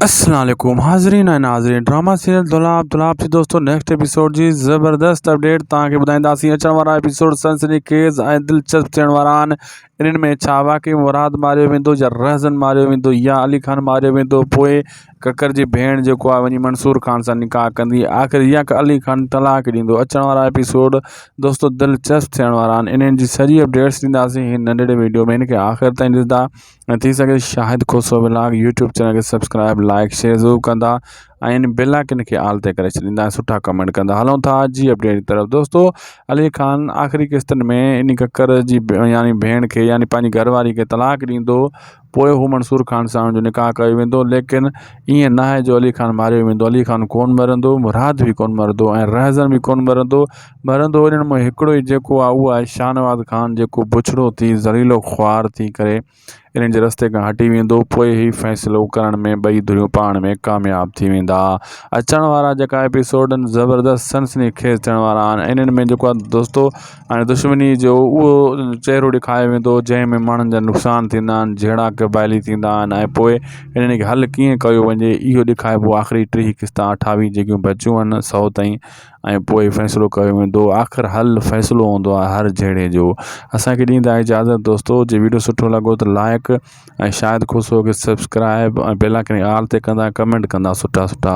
اسلام عليڪم حاضرين ۽ ناظرين ڊراما سيريل دولاب دولاب جي دوستو نيڪسٽ ايپيسوڊ جي زبردست اپڊيٽ توهان کي ٻڌائينداسين اچڻ وارا ايپيسوڊ سنسني خيز ۽ دلچسپ ٿيڻ وارا آهن انهن ۾ ڇا واقعي مراد ماريو ويندو يا رهزن ماريو ويندو يا علي خان ماريو ويندو پوء ڪڪر جي ڀيڻ جيڪو آهي وڃي منصور خان سان نڪاح ڪندي آخر يا علي خان طلاق ڏيندو اچڻ وارا ايپيسوڊ دوستو دلچسپ ٿيڻ وارا آهن انهن جي سڄي اپڊيٽس ڏينداسين هن ننڍڙي ويڊيو ۾ هن کي آخر تائين ڏسندا ۽ ٿي سگهي Shahid Khoso vlog YouTube channel کي سبسڪرائب لائڪ شيئر ضرور ڪندا ۽ بيل آئڪن کي آل تي ڪري ڇڏيندا ۽ سٺا ڪمينٽ ڪندا هلون ٿا اڄ جي اپڊيٽ جي طرف دوستو علي خان آخري قسطن ۾ ان ڪڪر جي يعني ڀيڻ کي يعني پنهنجي گهر واري کي طلاق ڏيندو پوء هو منصور خان سان جو نڪاح ڪيو ويندو ليڪن ائين نه آهي جو علي خان ماريو ويندو علي خان ڪون مرندو مراد به ڪون مرندو ۽ رهزن به ڪون مرندو ٻرندو انهن مان هڪڙو ئي جيڪو آ اهو آهي شاهنواز خان جيڪو بڇڙو ٿي زهريلو خوار ٿي ڪري انهن جي رستي کان هٽي ويندو پوء هي فيصلو ڪرڻ ۾ ٻئي ڌريون پاڻ ۾ ڪامياب ٿي ويندا اچڻ وارا جيڪا ايپيسوڊن زبردست سنسني خيز ٿيڻ وارا آهن انهن ۾ جيڪو آهي دوستو ۽ دشمني جو اهو چهرو ڏيکايو ويندو جنهن ۾ ماڻهن جا نقصان ٿيندا آهن جهيڙا قبائلي ٿيندا آهن ۽ پوء انهن کي حل ڪيئن ڪيو وڃي اهو ڏيکائبو آخري ٽيهه قسطا اٺاويهه جيڪيون بچيون آهن سو تائين ۽ پوء فيصلو ڪيو ويندو آخر حل فيصلو هوندو آهي هر جهيڙي جو اسانکي ڏيندا اجازت دوستو جي ويڊيو سٺو لڳو ته لائق ۽ شايد خوش هو ڪي سبسڪرائب ۽ بيل آئڪن آل تي ڪندا ڪمينٽ ڪندا سٺا سٺا